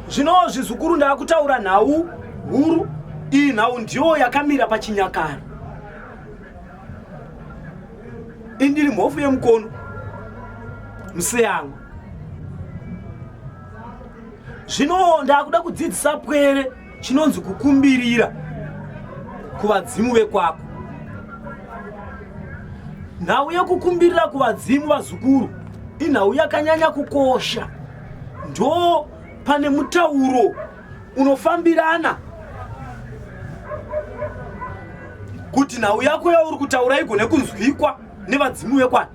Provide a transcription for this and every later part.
zvino zvizukuru ndaakutaura nhau huru iyi nhau ndiyo yakamira pachinyakare indiri mhofu yemukono museyangwa zvino ndaakuda kudzidzisa pwere chinonzi kukumbirira kuvadzimu vekwako nhau yekukumbirira kuvadzimu vazukuru inhau yakanyanya kukosha ndo pane mutauro unofambirana kuti nhau yako yauri kutaura igone kunzwikwa nevadzimu vekwana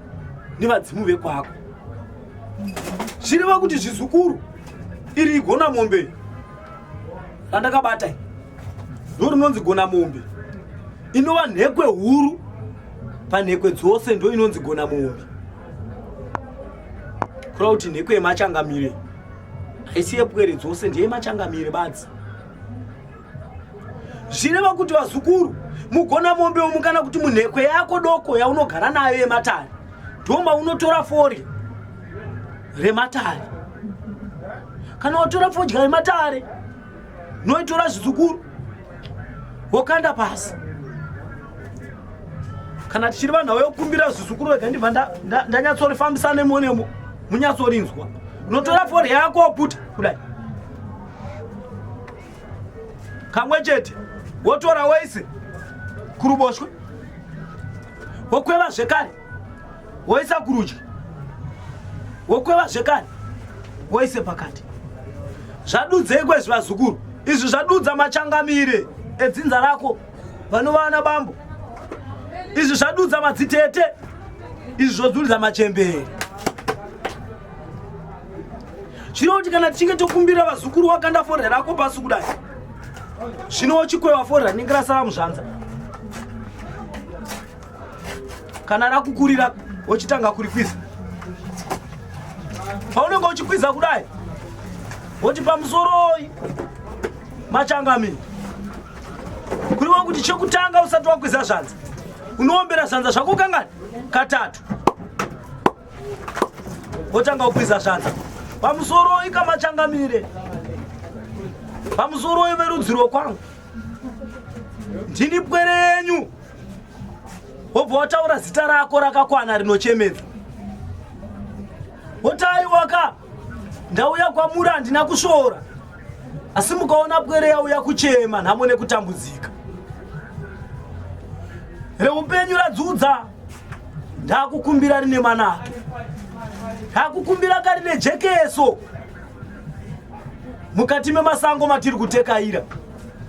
nevadzimu vekwako zvireva kuti zvizukuru iri igona mombe randakabata ndo rinonzi gona mombe inova nhekwe huru panhekwe dzose ndo inonzi gona mombe kura kuti nhekwe yemachangamire haisi yepwere dzose ndiye machangamire badzi zvireva kuti vazukuru mugona mombe umu kana kuti munhekwe yako doko yaunogara nayo yematare ndoma unotora fori rematare kana watora fodya yematare noitora zvidzukuru wokanda pasi kana tichiri vanhu vayokumbira zvidzukuru vega ndibva ndanyatsorifambisa nemo nemo munyatsorinzwa unotora fodya yako woputa kudai kamwe chete wotora wese kuruboshwe wokweva zvekare woisa kurudyi wokweva zvekani woise pakati zvadudzei kwezvi vazukuru izvi zvadudza machangamire edzinza rako vanova ana bambo izvi zvadudza madzitete izvi zvodzudza machembere zvino kuti kana tichinge tokumbira vazukuru wakanda forya rako pasi kudai zvino wochikweva forya rinenge rasara muzvanza kana rakukurira wochitanga kurikwiza paunenge uchikwiza kudai woti pamusoroi machangamini kuriwa kuti chekutanga usati wakwiza zvanza unoombera zvanza zvako kangani katatu wotanga ukwiza zvanza pamusoroi kamachangamire pamusoroi verudzi rwokwangu ndini pwere yenyu wobva wataura zita rako rakakwana rinochemedza wotaiwaka ndauya kwamuri handina kusvora asi mukaona pwere yauya kuchema nhamo nekutambudzika reupenyu radzudza ndakukumbira rine manaka ndakukumbira karine jekeso mukati memasango matiri kutekaira